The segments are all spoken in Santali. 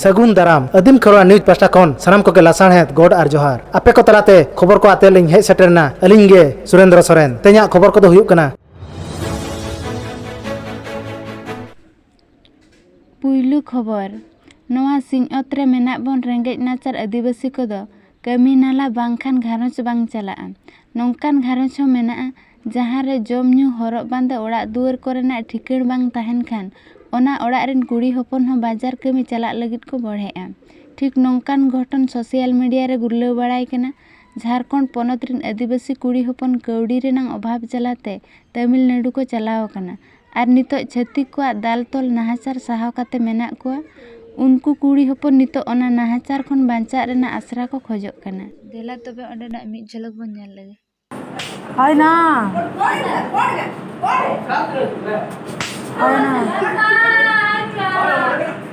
ᱥᱟᱹᱜᱩᱱ ᱫᱟᱨᱟᱢ ᱟᱹᱫᱤᱢ ᱠᱷᱚᱨᱣᱟ ᱱᱤᱭᱩᱡᱽ ᱯᱟᱥᱴᱟ ᱠᱷᱚᱱ ᱥᱟᱱᱟᱢ ᱠᱚᱜᱮ ᱞᱟᱥᱟᱬᱦᱮᱫ ᱜᱚᱰ ᱟᱨ ᱡᱚᱦᱟᱨ ᱟᱯᱮ ᱠᱚ ᱛᱟᱞᱟᱛᱮ ᱠᱷᱚᱵᱚᱨ ᱠᱚ ᱟᱛᱮ ᱞᱤᱧ ᱦᱮᱡ ᱥᱮᱴᱮᱨᱱᱟ ᱟᱹᱞᱤᱧ ᱜᱮ ᱥᱩᱨᱮᱱᱫᱨᱚ ᱥᱚᱨᱮᱱ ᱛᱮᱦᱮᱧᱟᱜ ᱠᱷᱚᱵᱚᱨ ᱠᱚᱫᱚ ᱦᱩᱭᱩᱜ ᱠᱟᱱᱟ ᱯᱩᱭᱞᱩ ᱠᱷᱚᱵᱚᱨ ᱱᱚᱣᱟ ᱥᱤᱧᱚᱛ ᱨᱮ ᱢᱮᱱᱟᱜ ᱵᱚᱱ ᱨᱮᱸᱜᱮᱡ ᱱᱟᱪᱟᱨ ᱟᱹᱫᱤᱵᱟᱹᱥᱤ ᱠᱚᱫᱚ ᱠᱟᱹᱢᱤ ᱱᱟᱞᱦᱟ ᱵᱟᱝᱠᱷᱟᱱ ᱜᱷᱟᱨᱚᱸᱡᱽ ᱵᱟᱝ ᱪᱟᱞᱟᱜᱼᱟ ᱱᱚᱝᱠᱟᱱ ᱜᱷᱟᱨᱚᱸᱡᱽ ᱦᱚᱸ ᱢᱮᱱᱟᱜᱼᱟ ᱡᱟᱦᱟᱸ ᱨᱮ ᱡᱚᱢ ᱧᱩ ᱦᱚᱨᱚᱜ ᱵᱟᱸᱫᱮ ᱚᱲᱟᱜ ᱫᱩᱣᱟᱹᱨ ᱠᱚᱨᱮᱱᱟᱜ ᱴᱷᱤᱠᱟᱹᱬ ᱵᱟᱝ ᱛᱟᱦᱮᱱ ᱠᱷᱟᱱ ᱚᱱᱟ ᱚᱲᱟᱜ ᱨᱮᱱ ᱠᱩᱲᱤ ᱦᱚᱯᱚᱱ ᱦᱚᱸ ᱵᱟᱡᱟᱨ ᱠᱟᱹᱢᱤ ᱪᱟᱞᱟᱜ ᱞᱟᱹᱜᱤᱫ ᱠᱚ ᱵᱚᱲᱦᱮᱜᱼᱟ ᱴᱷᱤᱠ ᱱᱚᱝᱠᱟᱱ ᱜᱷᱚᱴᱚᱱ ᱥᱳᱥᱟᱞ ᱢᱤᱰᱤᱭᱟ ᱨᱮ ᱜᱩᱨᱞᱟᱹᱣ ᱵᱟᱲᱟᱭ ᱠᱟᱱᱟ ᱡᱷᱟᱨᱠᱷᱚᱸᱰ ᱯᱚᱱᱚᱛ ᱨᱮᱱ ᱟᱹᱫᱤᱵᱟᱹᱥᱤ ᱠᱩᱲᱤ ᱦᱚᱯᱚᱱ ᱠᱟᱹᱣᱰᱤ ᱨᱮᱱᱟᱜ ᱚᱵᱷᱟᱵᱽ ᱡᱟᱞᱟᱛᱮ ᱛᱟᱹᱢᱤᱞᱱᱟᱹᱰᱩ ᱠᱚ ᱪᱟᱞᱟᱣ ᱟᱠᱟᱱᱟ ᱟᱨ ᱱᱤᱛᱚᱜ ᱪᱷᱟᱹᱛᱤᱠ ᱠᱚᱣᱟᱜ ᱫᱟᱞ ᱛᱚᱞ ᱱᱟᱦᱟᱪᱟᱨ ᱥᱟᱦᱟᱣ ᱠᱟᱛᱮ ᱢᱮᱱᱟᱜ ᱠᱚᱣᱟ ᱩᱱᱠᱩ ᱠᱩᱲᱤ ᱦᱚᱯᱚᱱ ᱱᱤᱛᱚᱜ ᱚᱱᱟ ᱱᱟᱦᱟᱪᱟᱨ ᱠᱷᱚᱱ ᱵᱟᱧᱪᱟᱜ ᱨᱮᱱᱟᱜ ᱟᱥᱨᱟ ᱠᱚ ᱠᱷᱚᱡᱚᱜ ᱠᱟᱱᱟ ᱫᱮᱞᱟ ᱛᱚᱵᱮ ᱚᱸᱰᱮᱱᱟᱜ ᱢᱤᱫ ᱡᱷᱚᱞᱚᱠ ᱵᱚᱱ ᱧᱮᱞ ᱞᱮᱜᱮ ᱦᱟᱭᱱᱟ ᱦᱟᱭᱱᱟ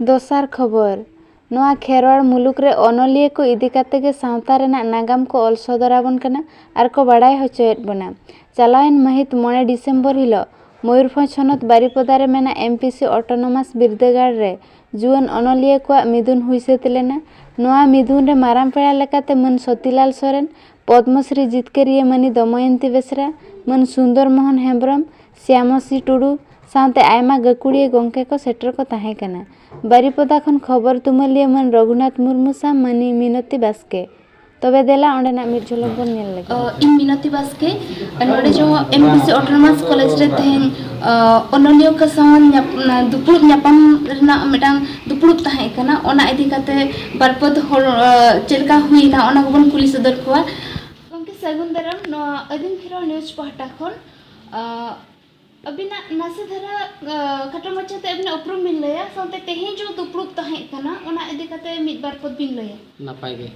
ᱫᱚᱥᱟᱨ ᱠᱷᱚᱵᱚᱨ, ᱱᱚᱣᱟ ᱠᱷᱮᱨᱣᱟᱲ ᱢᱩᱞᱩᱠ ᱨᱮ ᱚᱱᱚᱞᱤᱭᱟᱹ ᱠᱚ ᱤᱫᱤ ᱠᱟᱛᱮ ᱜᱮ ᱥᱟᱶᱛᱟ ᱨᱮᱱᱟᱜ ᱱᱟᱜᱟᱢ ᱠᱚ ᱚᱞ ᱥᱚᱫᱚᱨ ᱟᱵᱚᱱ ᱠᱟᱱᱟ ᱟᱨ ᱠᱚ ᱵᱟᱰᱟᱭ ᱦᱚᱪᱚᱭᱮᱫ ᱵᱚᱱᱟ᱾ ᱪᱟᱞᱟᱣᱮᱱ ᱢᱟᱹᱦᱤᱛ ᱢᱚᱬᱮ ᱰᱤᱥᱮᱢᱵᱚᱨ ᱦᱤᱞᱚᱜ ᱢᱚᱭᱩᱨᱵᱷᱚᱸᱡᱽ ᱦᱚᱱᱚᱛ ᱵᱟᱨᱤᱯᱚᱫᱟ ᱨᱮ ᱢᱮᱱᱟᱜ ᱮᱢᱯᱤᱥᱤ ᱚᱴᱚᱱᱚᱢᱟᱥ ᱵᱤᱨᱫᱟᱹᱜᱟᱲ ᱨᱮ ᱡᱩᱣᱟᱹᱱ ᱚᱱᱚᱞᱤᱭᱟᱹ ᱠᱚᱣᱟᱜ ᱢᱤᱫᱩᱱ ᱦᱩᱭ ᱥᱟᱹᱛ ᱞᱮᱱᱟ᱾ ᱱᱚᱣᱟ ᱢᱤᱫᱩᱱ ᱨᱮ ᱢᱟᱨᱟᱝ ᱯᱮᱲᱟ ᱞᱮᱠᱟᱛᱮ ᱢᱟᱹᱱ ᱥᱚᱛᱤᱞᱟᱞ ᱥᱚᱨᱮᱱ, ᱯᱚᱫᱽᱢᱚᱥᱨᱤ ᱡᱤᱛᱠᱟᱹᱨᱤᱭᱟᱹ ᱢᱟᱹᱱᱤ ᱫᱚᱢᱚᱭᱚᱱᱛᱤ ᱵᱮᱥᱨᱟ, ᱢᱟᱹᱱ ᱥᱩᱱᱫᱚᱨ ᱢᱚᱦᱚᱱ ᱦᱮᱢᱵᱽᱨᱚᱢ, ᱥᱭᱟᱢᱚᱥᱨᱤ ᱴᱩᱰᱩ ᱥᱟᱶᱛᱮ ᱟᱭᱢᱟ ᱜᱟᱹᱠᱷᱩᱲᱤᱭᱟᱹ ᱜᱚᱢᱠᱮ ᱠᱚ ᱥᱮᱴᱮᱨ ᱠᱚ ᱛᱟᱦᱮᱸ ᱠᱟᱱᱟ ᱵᱟᱨᱤᱯᱚᱫᱟ ᱠᱷᱚᱱ ᱠᱷᱚᱵᱚᱨ ᱛᱩᱢᱟᱹᱞᱤᱭᱟᱹ ᱢᱟᱹᱱ ᱨᱚᱜᱷᱩᱱᱟᱛᱷ ᱢᱩᱨᱢᱩ ᱥᱟᱶ ᱢᱟᱹᱱᱤᱡ ᱢᱤᱱᱚᱛᱤ ᱵᱟᱥᱠᱮ ᱛᱚᱵᱮ ᱫᱮᱞᱟ ᱚᱸᱰᱮᱱᱟᱜ ᱢᱤᱫ ᱡᱷᱚᱞᱚᱠ ᱵᱚᱱ ᱧᱮᱞ ᱞᱮᱜᱮ ᱤᱧ ᱢᱤᱱᱚᱛᱤ ᱵᱟᱥᱠᱮ ᱱᱚᱰᱮ ᱡᱚ ᱮᱢᱵᱤᱥᱤ ᱚᱴᱳᱱᱚᱢᱟᱥ ᱠᱚᱞᱮᱡᱽ ᱨᱮ ᱛᱮᱦᱮᱧ ᱚᱱᱚᱞᱤᱭᱟᱹ ᱠᱚ ᱥᱟᱶ ᱫᱩᱯᱲᱩᱵ ᱧᱟᱯᱟᱢ ᱨᱮᱱᱟᱜ ᱢᱤᱫᱴᱟᱝ ᱫᱩᱯᱲᱩᱵ ᱛᱟᱦᱮᱸ ᱠᱟᱱᱟ ᱚᱱᱟ ᱤᱫᱤ ᱠᱟᱛᱮ ᱵᱟᱨ ᱯᱮ ᱦᱚᱲ ᱪᱮᱫ ᱞᱮᱠᱟ ᱦᱩᱭᱱᱟ ᱚᱱᱟ ᱠᱚᱵᱚᱱ ᱠᱩᱞᱤ ᱥᱚᱫᱚᱨ ᱠᱚᱣᱟ ᱜᱚᱢᱠᱮ ᱥᱟᱹᱜᱩᱱ ᱫᱟᱨᱟᱢ ᱱᱚᱣᱟ ᱟᱹᱫᱤᱢ ᱠᱷᱮᱨᱣᱟᱞ ᱱᱤᱭᱩᱡᱽ ᱯᱟᱦᱴᱟ ᱠᱷᱚᱱ ᱟᱹᱵᱤᱱᱟᱜ ᱱᱟᱥᱮ ᱫᱷᱟᱨᱟ ᱠᱷᱟᱴᱚ ᱢᱟᱪᱷᱟᱛᱮ ᱟᱹᱵᱤᱱᱟᱜ ᱩᱯᱨᱩᱢ ᱵᱤᱱ ᱞᱟᱹᱭᱟ ᱥᱟᱶᱛᱮ ᱛᱮᱦᱮᱧ ᱡᱚ ᱫᱩᱯᱲᱩᱵ ᱛᱟᱦᱮᱸ ᱠᱟᱱᱟ ᱚᱱᱟ ᱤᱫᱤ ᱠᱟᱛᱮ ᱢᱤᱫ ᱵᱟᱨ ᱯᱚᱫ ᱵᱤᱱ ᱞᱟᱹᱭᱟ ᱱᱟᱯᱟᱭ ᱜᱮ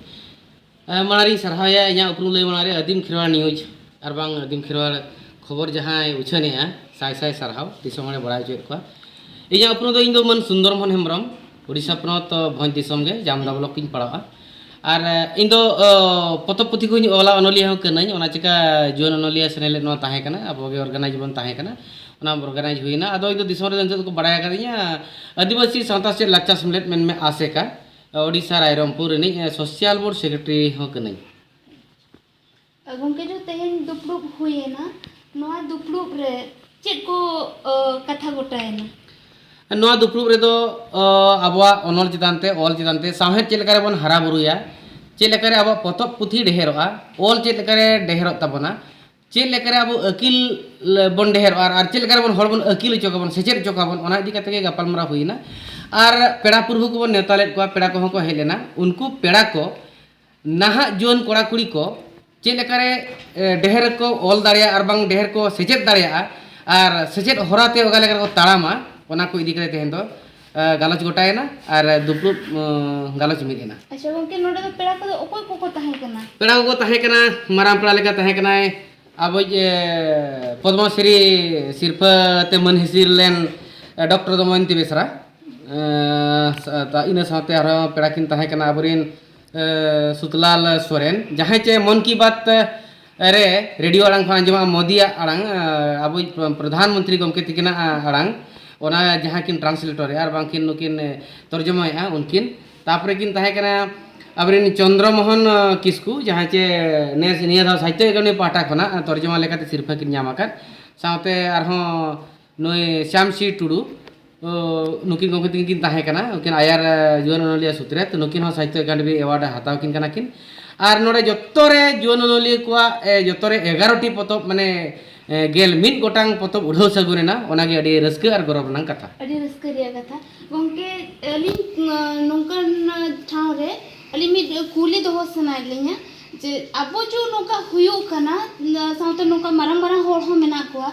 ᱢᱟᱲᱟᱝ ᱨᱤᱧ ᱥᱟᱨᱦᱟᱣᱮᱭᱟ ᱤᱧᱟᱹᱜ ᱩᱯᱨᱩᱢ ᱞᱟᱹᱭ ᱢᱟᱲᱟᱝ ᱨᱮ ᱟᱹᱫᱤᱢ ᱠᱷᱮᱨᱣᱟᱲ ᱱᱤᱭᱩᱡᱽ ᱟᱨ ᱵᱟᱝ ᱟᱹᱫᱤᱢ ᱠᱷᱮᱨᱣᱟᱲ ᱠᱷᱚᱵᱚᱨ ᱡᱟᱦᱟᱸᱭ ᱩᱪᱷᱟᱹᱱᱮᱜᱼᱟ ᱥᱟᱭ ᱥᱟᱭ ᱥᱟᱨᱦᱟᱣ ᱫᱤᱥᱚᱢ ᱦᱚᱲᱮ ᱵᱟᱲᱟᱭ ᱦᱚᱪᱚᱭᱮᱫ ᱠᱚᱣᱟ ᱤᱧᱟᱹᱜ ᱩᱯᱨᱩᱢ ᱫᱚ ᱤᱧ ᱫᱚ ᱢᱟᱹᱱ ᱥᱩᱱᱫᱚᱨ ᱢᱳᱦᱚᱱ ᱦᱮᱢᱵᱨᱚᱢ ᱳᱰᱤᱥᱟ ᱯᱚᱱᱚᱛ ᱵᱷᱚᱸᱡᱽ ᱫᱤᱥᱚᱢ ᱜᱮ ᱡᱟᱢᱫᱟ ᱵᱞᱚᱠ ᱤᱧ ᱯᱟᱲᱟᱜᱼᱟ ᱟᱨ ᱤᱧ ᱫᱚ ᱯᱚᱛᱚᱵ ᱯᱩᱛᱷᱤ ᱠᱚᱧ ᱚᱞᱟ ᱚᱱᱚᱞᱤᱭᱟᱹ ᱦᱚᱸ ᱠᱟᱹᱱᱟᱹᱧ ᱚᱱᱟ ᱪᱤᱠᱟᱹ ᱡᱩᱣᱟᱹᱱ ᱚᱱᱚᱞᱤᱭᱟᱹ ᱥᱮᱱᱮᱞᱮᱫ ᱱᱚᱣᱟ ᱛᱟᱦᱮᱸ ᱠᱟᱱᱟ ᱟᱵᱚ ᱜᱮ ᱚᱨᱜᱟᱱᱟᱭᱤᱡᱽ ᱵᱚᱱ ᱛᱟᱦᱮᱸ ᱠᱟᱱᱟ ᱚᱱᱟ ᱚᱨᱜᱟᱱᱟᱭᱤᱡᱽ ᱦᱩᱭᱱᱟ ᱟᱫᱚ ᱤᱧ ᱫᱚ ᱫᱤᱥᱚᱢ ᱨᱮᱫᱚ ᱱᱤᱛᱚᱜ ᱫᱚᱠᱚ ᱵᱟᱲᱟᱭ ᱟᱠᱟᱫᱤᱧᱟ ᱟᱹᱫᱤᱵᱟᱹᱥᱤ ᱥᱟᱶᱛᱟ ᱥᱮᱪᱮᱫ ᱞᱟᱠᱪᱟᱨ ᱥᱮᱢᱞᱮᱫ ᱢᱮᱱᱢᱮ ᱟᱥᱮᱠᱟ ᱳᱰᱤᱥᱟ ᱨᱟᱭᱨᱚᱝᱯᱩᱨ ᱨᱤᱱᱤᱡ ᱥᱳᱥᱟᱞ ᱵᱳᱨᱰ ᱥᱮᱠᱨᱮᱴᱟᱨᱤ ᱦᱚᱸ ᱠᱟᱹᱱᱟᱹᱧ ᱜᱚᱢᱠᱮ ᱡᱚ ᱛᱮᱦᱮᱧ ᱫᱩᱯᱲᱩᱵ ᱦᱩᱭᱮᱱᱟ ᱱᱚᱣᱟ ᱫᱩᱯᱲᱩᱵ ᱨᱮ ᱪᱮᱫ ᱠᱚ ᱠᱟᱛᱷᱟ ᱜᱚᱴᱟᱭᱮᱱᱟ ᱱᱚᱣᱟ ᱫᱩᱯᱲᱩᱵ ᱨᱮᱫᱚ ᱟᱵᱚᱣᱟᱜ ᱚᱱᱚᱞ ᱪᱮᱛᱟᱱ ᱛᱮ ᱚᱞ ᱪᱮᱛᱟᱱ ᱛᱮ ᱥᱟᱶᱦᱮᱫ ᱪᱮᱫ ᱞᱮᱠᱟᱨᱮ ᱵᱚᱱ ᱦᱟᱨᱟ ᱵᱩᱨᱩᱭᱟ ᱪᱮᱫ ᱞᱮᱠᱟᱨᱮ ᱟᱵᱚᱣᱟᱜ ᱯᱚᱛᱚᱵ ᱯᱩᱛᱷᱤ ᱰᱷᱮᱨᱚᱜᱼᱟ ᱚᱞ ᱪᱮᱫ ᱞᱮᱠᱟᱨᱮ ᱰᱷᱮᱨᱚᱜ ᱛᱟᱵᱚᱱᱟ ᱪᱮᱫ ᱞᱮᱠᱟᱨᱮ ᱟᱵᱚ ᱟᱹᱠᱤᱞ ᱵᱚᱱ ᱰᱷᱮᱨᱚᱜᱼᱟ ᱟᱨ ᱪᱮᱫ ᱞᱮᱠᱟᱨᱮ ᱵᱚᱱ ᱦᱚᱲ ᱵᱚᱱ ᱟᱹᱠᱤᱞ ᱦᱚᱪᱚ ᱠᱚᱣᱟ ᱵᱚᱱ ᱥᱮᱪᱮᱫ ᱦᱚᱪᱚ ᱠᱚᱣᱟ ᱵᱚᱱ ᱚᱱᱟ ᱤᱫᱤ ᱠᱟᱛᱮ ᱜᱮ ᱜᱟᱯᱟᱞᱢᱟᱨᱟᱣ ᱦᱩᱭᱮᱱᱟ ᱟᱨ ᱯᱮᱲᱟ ᱯᱩᱨᱵᱷᱩ ᱠᱚᱵᱚᱱ ᱱᱮᱣᱛᱟ ᱞᱮᱫ ᱠᱚᱣᱟ ᱯᱮᱲᱟ ᱠᱚᱦᱚᱸ ᱠᱚ ᱦᱮᱡ ᱞᱮᱱᱟ ᱩᱱᱠᱩ ᱯᱮᱲᱟ ᱠᱚ ᱱᱟᱦᱟᱜ ᱡᱩᱣᱟᱹᱱ ᱠᱚᱲᱟ ᱠᱩᱲᱤ ᱠᱚ ᱪᱮᱫ ᱞᱮᱠᱟ ᱨᱮ ᱰᱷᱮᱨ ᱠᱚ ᱚᱞ ᱫᱟᱲᱮᱭᱟᱜᱼᱟ ᱟᱨ ᱵᱟᱝ ᱰᱷᱮᱨ ᱠᱚ ᱥᱮᱪᱮᱫ ᱫᱟᱲᱮᱭᱟᱜᱼᱟ ᱟᱨ ᱥᱮᱪᱮᱫ ᱦᱚᱨᱟ ᱛᱮ ᱚᱠᱟ ᱞᱮᱠᱟ ᱨᱮᱠᱚ ᱛᱟᱲᱟᱢᱟ ᱚᱱᱟ ᱠᱚ ᱤᱫᱤ ᱠᱟᱛᱮ ᱛᱮᱦᱮᱧ ᱫᱚ ᱜᱟᱞᱚᱪ ᱜᱚᱴᱟᱭᱮᱱᱟ ᱟᱨ ᱫᱩᱯᱲᱩᱵ ᱜᱟᱞᱚᱪ ᱢᱤᱫ ᱮᱱᱟ ᱟᱪᱪᱷᱟ ᱜᱚᱝᱠᱮ ᱱᱚᱰᱮ ᱫᱚ ᱯᱮᱲᱟ ᱠᱚᱫᱚ ᱚᱠᱚᱭ ᱠᱚᱠᱚ ᱛᱟᱦᱮᱸ ᱠᱟᱱᱟ ᱯᱮᱲᱟ ᱠᱚᱠᱚ ᱛᱟᱦᱮᱸ ᱠᱟᱱᱟ ᱢᱟᱨᱟᱝ ᱯᱮᱲᱟ ᱞᱮᱠᱟ ᱛᱟᱦᱮᱸ ᱠᱟᱱᱟᱭ ᱟᱵᱚᱭᱤᱡ ᱯᱚᱫᱽᱢᱚᱥᱨᱤ ᱥᱤᱨᱯᱷᱟᱹ ᱛᱮ ᱢᱟᱹᱱ ᱦᱤᱥᱤᱨ ᱞᱮᱱ ᱰᱚᱠᱴᱚᱨ ᱫᱚᱢᱚᱭᱚᱱᱛᱤ ᱵᱮᱥᱨᱟ ᱤᱱᱟᱹ ᱥᱟᱶᱛᱮ ᱟᱨᱦᱚᱸ ᱯᱮᱲᱟ ᱠᱤᱱ ᱛᱟᱦᱮᱸ ᱠᱟᱱᱟ ᱟᱵᱚᱨᱮᱱ ᱥᱩᱛᱞᱟᱞ ᱥᱚᱨᱮᱱ ᱡᱟᱦᱟᱸᱭ ᱪᱮ ᱢᱚᱱ ᱠᱤ ᱵᱟᱛ ᱨᱮ ᱨᱮᱰᱤᱭᱳ ᱟᱲᱟᱝ ᱠᱷᱚᱱ ᱟᱸᱡᱚᱢᱟ ᱢᱳᱫᱤᱭᱟᱜ ᱟᱲᱟᱝ ᱟᱵᱚ ᱯᱨᱚᱫᱷᱟᱱ ᱢᱚᱱᱛᱨᱤ ᱜᱚᱢᱠᱮ ᱛᱤᱠᱤᱱᱟᱜ ᱟᱲᱟᱝ ᱚᱱᱟ ᱡᱟᱦᱟᱸ ᱠᱤᱱ ᱴᱨᱟᱱᱥᱞᱮᱴᱚᱨᱮᱜᱼᱟ ᱟᱨ ᱵᱟᱝᱠᱤᱱ ᱱᱩᱠᱤᱱ ᱛᱚᱨᱡᱚᱢᱟᱭᱮᱜᱼᱟ ᱩᱱᱠᱤᱱ ᱛᱟᱯᱚᱨᱮ ᱠᱤᱱ ᱛᱟᱦᱮᱸ ᱠᱟᱱᱟ ᱟᱵᱚᱨᱮᱱ ᱪᱚᱱᱫᱨᱚ ᱢᱳᱦᱚᱱ ᱠᱤᱥᱠᱩ ᱡᱟᱦᱟᱸᱭ ᱪᱮ ᱱᱮᱥ ᱱᱤᱭᱟᱹ ᱫᱷᱟᱣ ᱥᱟᱦᱤᱛᱛᱚ ᱟᱠᱟᱫᱮᱢᱤ ᱯᱟᱦᱴᱟ ᱠᱷᱚᱱᱟᱜ ᱛᱚᱨᱡᱚᱢᱟ ᱞᱮᱠᱟᱛᱮ ᱥᱤᱨᱯᱷᱟᱹ ᱠᱤᱱ ᱧᱟᱢ ᱟᱠᱟᱫ ᱥᱟᱶᱛᱮ ᱟᱨᱦᱚᱸ ᱱᱩᱭ ᱥᱭᱟᱢ ᱥᱤ ᱴᱩᱰᱩ ᱱᱩᱠᱤᱱ ᱜᱚᱢᱠᱮ ᱛᱤᱠᱤᱱ ᱠᱤᱱ ᱛᱟᱦᱮᱸ ᱠᱟᱱᱟ ᱩᱱᱠᱤᱱ ᱟᱭᱟᱨ ᱡᱩᱣᱟᱹᱱ ᱚᱱᱚᱞᱤᱭᱟᱹ ᱥᱩᱛᱨᱮᱛ ᱱᱩᱠᱤᱱ ᱦᱚᱸ ᱥᱟᱦᱤᱛᱭᱚ ᱮᱠᱟᱰᱮᱢᱤ ᱮᱣᱟᱨᱰ ᱦᱟᱛᱟᱣ ᱠᱤᱱ ᱠᱟᱱᱟ ᱠᱤᱱ ᱟᱨ ᱱᱚᱰᱮ ᱡᱚᱛᱚ ᱨᱮ ᱡᱩᱣᱟᱹᱱ ᱚᱱᱚᱞᱤᱭᱟᱹ ᱠᱚᱣᱟᱜ ᱡᱚᱛᱚ ᱨᱮ ᱮᱜᱟᱨᱚᱴᱤ ᱯᱚᱛᱚᱵ ᱢᱟᱱᱮ ᱜᱮᱞ ᱢᱤᱫ ᱜᱚᱴᱟᱝ ᱯᱚᱛᱚᱵ ᱩᱰᱷᱟᱹᱣ ᱥᱟᱹᱜᱩᱱ ᱮᱱᱟ ᱚᱱᱟᱜᱮ ᱟᱹᱰᱤ ᱨᱟᱹᱥᱠᱟᱹ ᱟᱨ ᱜᱚᱨᱚᱵᱽ ᱨᱮᱱᱟᱜ ᱠᱟᱛᱷᱟ ᱟᱹᱰᱤ ᱨᱟᱹᱥᱠᱟᱹ ᱨᱮᱭᱟᱜ ᱠᱟᱛᱷᱟ ᱜᱚᱢᱠᱮ ᱟᱹᱞᱤᱧ ᱱᱚᱝᱠᱟᱱ ᱴᱷᱟᱶ ᱨᱮ ᱟᱹᱞᱤᱧ ᱢᱤᱫ ᱠᱩᱞᱤ ᱫᱚᱦᱚ ᱥᱟᱱᱟᱭᱮᱫ ᱞᱤᱧᱟ ᱡᱮ ᱟᱵᱚ ᱡᱮ ᱱᱚᱝᱠᱟ ᱦᱩᱭᱩᱜ ᱠᱟᱱᱟ ᱥᱟᱶᱛᱮ ᱱᱚᱝᱠᱟ ᱢᱟᱨᱟᱝ ᱢᱟᱨᱟᱝ ᱦᱚᱲ ᱦᱚᱸ ᱢᱮᱱᱟᱜ ᱠᱚᱣᱟ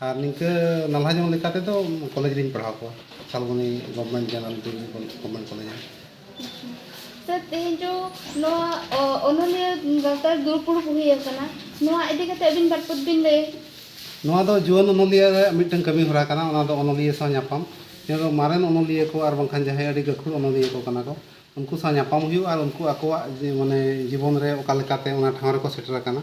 ᱟᱨ ᱱᱤᱝᱠᱟᱹ ᱱᱟᱞᱦᱟ ᱧᱚᱜ ᱞᱮᱠᱟ ᱛᱮᱫᱚ ᱠᱚᱞᱮᱡᱽ ᱨᱤᱧ ᱯᱟᱲᱦᱟᱣ ᱠᱚᱣᱟ ᱥᱟᱞᱵᱚᱱᱤ government general degree government college ᱨᱮ ᱥᱟᱨ ᱛᱮᱦᱮᱧ ᱡᱚ ᱱᱚᱣᱟ ᱚᱱᱚᱞᱤᱭᱟᱹ ᱜᱟᱶᱛᱟ ᱫᱩᱲᱩᱵ ᱯᱩᱲᱩᱵ ᱦᱩᱭ ᱟᱠᱟᱱᱟ ᱱᱚᱣᱟ ᱤᱫᱤ ᱠᱟᱛᱮ ᱟᱹᱵᱤᱱ ᱵᱟᱨ ᱯᱚᱫ ᱵᱤᱱ ᱞᱟᱹᱭ ᱱᱚᱣᱟ ᱫᱚ ᱡᱩᱣᱟᱹᱱ ᱚᱱᱚᱞᱤᱭᱟᱹ ᱨᱮ ᱢᱤᱫᱴᱟᱝ ᱠᱟᱹᱢᱤ ᱦᱚᱨᱟ ᱠᱟᱱᱟ ᱚᱱᱟ ᱫᱚ ᱚᱱᱚᱞᱤᱭᱟᱹ ᱥᱟᱶ ᱧᱟᱯᱟᱢ ᱱᱤᱭᱟᱹ ᱫᱚ ᱢᱟᱨᱮᱱ ᱚᱱᱚᱞᱤᱭᱟᱹ ᱠᱚ ᱟᱨ ᱵᱟᱝᱠᱷᱟᱱ ᱡᱟᱦᱟᱸᱭ ᱟᱹᱰᱤ ᱜᱟᱹᱠᱷᱩᱲ ᱚᱱᱚᱞᱤᱭᱟᱹ ᱠᱚ ᱠᱟᱱᱟ ᱠᱚ ᱩᱱᱠᱩ ᱥᱟᱶ ᱧᱟᱯᱟᱢ ᱦᱩᱭᱩᱜᱼᱟ ᱟᱨ ᱩᱱᱠᱩ ᱟᱠᱚᱣᱟᱜ ᱢᱟᱱᱮ ᱡᱤᱵᱚᱱ ᱨᱮ ᱚᱠᱟ ᱞᱮᱠᱟᱛᱮ ᱚᱱᱟ ᱴᱷᱟᱶ ᱨᱮᱠᱚ ᱥᱮᱴᱮᱨ ᱟᱠᱟᱱᱟ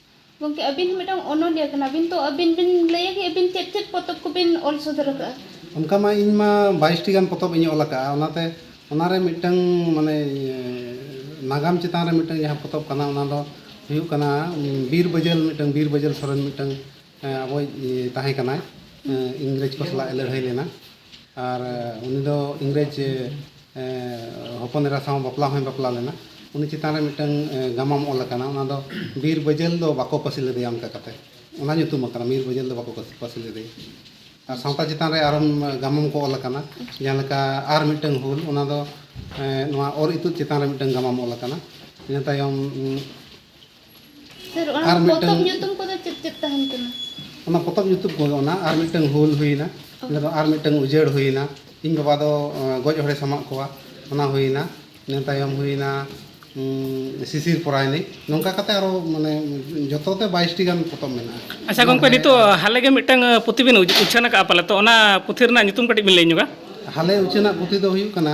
ᱜᱚᱢᱠᱮ ᱟᱹᱵᱤᱱ ᱦᱚᱸ ᱢᱤᱫᱴᱟᱝ ᱚᱱᱚᱞᱤᱭᱟᱹ ᱠᱟᱱᱟᱵᱤᱱ ᱛᱚ ᱟᱹᱵᱤᱱ ᱵᱤᱱ ᱞᱟᱹᱭᱟ ᱠᱤ ᱟᱹᱵᱤᱱ ᱪᱮᱫ ᱪᱮᱫ ᱯᱚᱛᱚᱵ ᱠᱚᱵᱤᱱ ᱚᱞ ᱥᱚᱫᱚᱨ ᱟᱠᱟᱫᱼᱟ ᱚᱱᱠᱟ ᱢᱟ ᱤᱧ ᱢᱟ ᱵᱟᱭᱤᱥ ᱴᱤ ᱜᱟᱱ ᱯᱚᱛᱚᱵ ᱤᱧ ᱚᱞ ᱟᱠᱟᱫᱼᱟ ᱚᱱᱟᱛᱮ ᱚᱱᱟ ᱨᱮ ᱢᱤᱫᱴᱟᱝ ᱢᱟᱱᱮ ᱱᱟᱜᱟᱢ ᱪᱮᱛᱟᱱ ᱨᱮ ᱢᱤᱫᱴᱟᱝ ᱡᱟᱦᱟᱸ ᱯᱚᱛᱚᱵ ᱠᱟᱱᱟ ᱚᱱᱟ ᱫᱚ ᱦᱩᱭᱩᱜ ᱠᱟᱱᱟ ᱵᱤᱨ ᱵᱟᱹᱡᱟᱹᱞ ᱢᱤᱫᱴᱟᱝ ᱵᱤᱨ ᱵᱟᱹᱡᱟᱹᱞ ᱥᱚᱨᱮᱱ ᱢᱤᱫᱴᱟᱝ ᱟᱵᱚᱭᱤᱡ ᱛᱟᱦᱮᱸ ᱠᱟᱱᱟᱭ ᱤᱝᱨᱮᱡᱽ ᱠᱚ ᱥᱟᱞᱟᱜ ᱮ ᱞᱟᱹᱲᱦᱟᱹᱭ ᱞᱮᱱᱟ ᱟᱨ ᱩᱱᱤ ᱫᱚ ᱤᱝᱨᱮᱡᱽ ᱦᱚᱯᱚᱱ ᱮᱨᱟ ᱥᱟᱶ ᱵᱟᱯᱞᱟ ᱦᱚᱸᱭ ᱵᱟᱯᱞᱟ ᱞᱮᱱᱟ ᱩᱱᱤ ᱪᱮᱛᱟᱱ ᱨᱮ ᱢᱤᱫᱴᱟᱹᱝ ᱜᱟᱢᱟᱢ ᱚᱞ ᱟᱠᱟᱱᱟ ᱚᱱᱟ ᱫᱚ ᱵᱤᱨ ᱵᱟᱹᱡᱟᱹᱞ ᱫᱚ ᱵᱟᱠᱚ ᱯᱟᱹᱥᱤ ᱞᱮᱫᱮᱭᱟ ᱚᱱᱠᱟ ᱠᱟᱛᱮᱫ ᱚᱱᱟ ᱧᱩᱛᱩᱢ ᱟᱠᱟᱱᱟ ᱵᱤᱨ ᱵᱟᱹᱡᱟᱹᱞ ᱫᱚ ᱵᱟᱠᱚ ᱯᱟᱹᱥᱤ ᱞᱮᱫᱮᱭᱟ ᱟᱨ ᱥᱟᱶᱛᱟ ᱪᱮᱛᱟᱱ ᱨᱮ ᱟᱨᱚ ᱜᱟᱢᱟᱢ ᱠᱚ ᱚᱞ ᱟᱠᱟᱱᱟ ᱡᱟᱦᱟᱸ ᱞᱮᱠᱟ ᱟᱨ ᱢᱤᱫᱴᱟᱹᱝ ᱦᱩᱞ ᱚᱱᱟ ᱫᱚ ᱱᱚᱣᱟ ᱚᱨ ᱤᱛᱩᱫ ᱪᱮᱛᱟᱱ ᱨᱮ ᱢᱤᱫᱴᱟᱹᱝ ᱜᱟᱢᱟᱢ ᱚᱞ ᱟᱠᱟᱱᱟ ᱤᱱᱟᱹ ᱛᱟᱭᱚᱢ ᱥᱟᱨ ᱚᱱᱟ ᱟᱨ ᱢᱤᱫᱴᱟᱝ- ᱯᱚᱛᱚᱵ ᱧᱩᱛᱩᱢ ᱠᱚᱫᱚ ᱪᱮᱫ ᱪᱮᱫ ᱛᱟᱦᱮᱱ ᱠᱟᱱᱟ? ᱚᱱᱟ ᱯᱚᱛᱚᱵ ᱧᱩᱛᱩᱢ ᱠᱚ ᱚᱱᱟ ᱟᱨ ᱢᱤᱫᱴᱟᱝ ᱦᱩᱞ ᱦᱩᱭᱱᱟ ᱤᱱᱟᱹ ᱫᱚ ᱟᱨ ᱢᱤᱫᱴᱟᱝ ᱩᱡᱟᱹᱲ ᱦᱩᱭᱱᱟ ᱤᱧ ᱵᱟᱵᱟ ᱫᱚ ᱮᱸ, ᱜᱚᱡ ᱦᱚᱲᱮ ᱥᱟᱢᱟᱜ ᱠᱚᱣᱟ ᱚᱱᱟ ᱦᱩᱭᱱᱟ ᱤᱱᱟᱹ ᱛᱟᱭᱚᱢ ᱦᱩᱭᱱᱟ ᱩᱸ, ᱥᱤᱥᱤᱨ ᱯᱚᱨᱟᱭᱱᱤ ᱱᱚᱝᱠᱟ ᱠᱟᱛᱮ ᱟᱨᱚ ᱢᱟᱱᱮ ᱡᱚᱛᱚ ᱛᱮ ᱵᱟᱭᱤᱥᱴᱤ ᱜᱟᱱ ᱯᱚᱛᱚᱵ ᱢᱮᱱᱟᱜᱼᱟ ᱟᱪᱪᱷᱟ ᱜᱚᱝᱠᱮ ᱱᱤᱛᱚᱜ ᱦᱟᱞᱮ ᱜᱮ ᱢᱤᱫᱴᱟᱝ ᱟᱸ, ᱯᱩᱛᱷᱤ ᱵᱤᱱ ᱩᱪ- ᱩᱪᱷᱟᱹᱱ ᱟᱠᱟᱫᱼᱟ ᱯᱟᱞᱮ ᱛᱚ ᱚᱱᱟ ᱯᱩᱛᱷᱤ ᱨᱮᱱᱟᱜ ᱧᱩᱛᱩᱢ ᱠᱟᱹᱴᱤᱡ ᱵᱤᱱ ᱞᱟᱹᱭ ᱧᱚᱜᱟ ᱦᱟᱞᱮ ᱩᱪᱷᱟᱹᱱᱟᱜ ᱯᱩᱛᱷᱤ ᱫᱚ ᱦᱩᱭᱩᱜ ᱠᱟᱱᱟ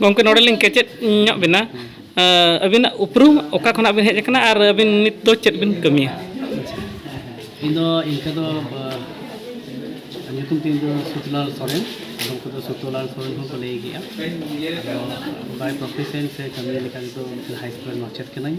ᱜᱚᱢᱠᱮ ᱱᱚᱰᱮ ᱞᱤᱧ ᱠᱮᱪᱮᱫ ᱧᱚᱜ ᱵᱮᱱᱟ ᱟᱹᱵᱤᱱᱟᱜ ᱩᱯᱨᱩᱢ ᱚᱠᱟ ᱠᱷᱚᱱᱟᱜ ᱵᱤᱱ ᱦᱮᱡ ᱟᱠᱟᱱᱟ ᱟᱨ ᱟᱹᱵᱤᱱ ᱱᱤᱛ ᱫᱚ ᱪᱮᱫ ᱵᱤᱱ ᱠᱟᱹᱢᱤᱭᱟ ᱤᱧ ᱫᱚ ᱤᱱᱠᱟᱹ ᱫᱚ ᱧᱩᱛᱩᱢ ᱛᱤᱧ ᱫᱚ ᱥᱩᱛᱞᱟᱞ ᱥᱚᱨᱮᱱ ᱟᱫᱚᱢ ᱠᱚᱫᱚ ᱥᱩᱛᱞᱟᱞ ᱥᱚᱨᱮᱱ ᱦᱚᱸᱠᱚ ᱞᱟᱹᱭ ᱜᱮᱭᱟ ᱟᱫᱚ ᱵᱟᱭ ᱯᱨᱚᱯᱷᱮᱥᱮᱱ ᱥᱮ ᱠᱟᱹᱢᱤ ᱞᱮᱠᱟ ᱛᱮᱫᱚ ᱦᱟᱭ ᱥᱠᱩᱞ ᱨᱮᱱ ᱢᱟᱪᱮᱫ ᱠᱟᱹᱱᱟᱹᱧ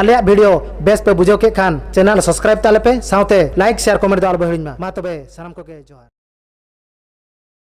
ᱟᱞᱮᱭᱟᱜ ᱵᱷᱤᱰᱤᱭᱳ ᱵᱮᱥ ᱯᱮ ᱵᱩᱡᱷᱟᱹᱣ ᱠᱮᱫ ᱠᱷᱟᱱ ᱪᱮᱱᱮᱞ ᱥᱟᱵᱥᱠᱨᱟᱭᱤᱵ ᱛᱟᱞᱮ ᱯᱮ ᱥᱟᱶᱛᱮ ᱞᱟᱭᱤᱠ ᱥᱮᱭᱟᱨ ᱠᱚᱢᱮᱱᱴ ᱫᱚ ᱟᱞᱚ ᱯᱮ ᱦᱤᱲᱤᱧ ᱢᱟ ᱢᱟ ᱛᱚᱵᱮ ᱥᱟᱱᱟᱢ ᱠᱚᱜᱮ ᱡᱚᱦᱟᱨ